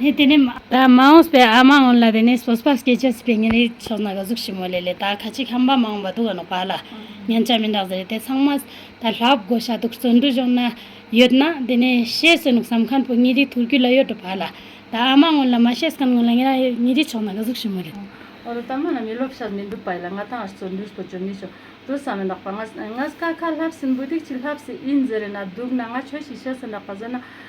ནས་དེ་ནས་མ། ད་མ་འོངས་པའི་ཨ་མ་འོན་ལ་དེ་ནས་སོ་སོ་སྐད་ཆ་སི་པའི་ཉིན་རེའི་ཆོག་ན་ག་གཟུགས་ཞིབ་མོ་ལས་ལས་ད་ཁ་ཅིག་ཧམ་པ་མ་འོངས་པ་འདུག་ག་ནོག་པ་ལ་ཉན་ཆ་མིན་རག་ཟེར་རེད་དེ་ཚང་མ་ད་ལྷག་བགོ་བྱ་འདུག་བརྩོན་འགྲུས་གཞོག་ན་ཡོད་ན་དེ་ནས་ཤེས་ཟེར་ནོག་བསམ་ཁན་པོ་ཉིན་རེའི་ཐུགས་རྒྱུད་ལ་ཡོད་འགྲོ་པ་ལ་ད་ཨ་མ་འོན་ལ་མ་ཤེས་ཁན་འོན་ལ་ཉིན་ར་ཉིན་རེའི་ཆོག་ན་ག་གཟུགས་ཞིབ་མོ་ལས། འོ་ད་ད་མ་ལ་མི་སློབ་ཤ་མི་འདུག་པ་ཡིན་ལ་ང་ད་ཨ་བརྩོན་འགྲུས་སྤོ་བྱོ་མི་བྱོ་བྲོ་ས་མིན་རག་པ་ང་ང་ཀ་ཁ་ལྷབ་སིན་བུ་དིག་ཅིག་ལྷབ་སི་ཨིན་ཟེར་རེད་ན་འདུག་ན་ང་ཆོས་ཤིག་བྱེད་སིན་རག་པ་ཟེར་ན།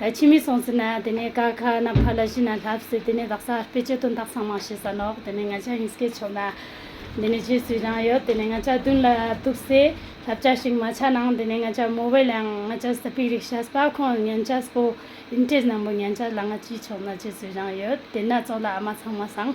ད་ཕྱི་མའི་སོང་ཚུལ་ན་དེ་ནས་ཀ་ཁ་ན་ཕ་ལ་གཞི་ན་ལྷབ་ཟེར་དེ་ནས་བདག་ས་ཨར་པའི་སྤྱི་དོན་དག་ཚང་མ་ཤེས་ས་ནོག་དེ་ནས་ང་ཅག་ཡིན་སྐད་ཆོག་ན་དེ་ནས་བྱེད་ཚུལ་ཀྱང་ཡོད་དེ་ནས་ང་ཅག་བདུན་ལ་ཐུག་སའི་ལྷབ་ཅག་ཞིག་མ་ཆག་ནང་དེ་ནས་ང་ཅག་མོ་བས་ལའང་ང་ཅག་ས་པིག་རིག་ཤ་ས་ཁོང་ཉན་ཆ་སྤོ་ཨིན་ཏྲེས་ནང་པོ་ཉན་ཆ་ལ་ང་ཅི་ཆོག་ན་བྱེད་ཚུལ་ཀྱང་ཡོད་དེ་ན་ཙོག་ལ་ཨ་མ་ཚང་མ་སང།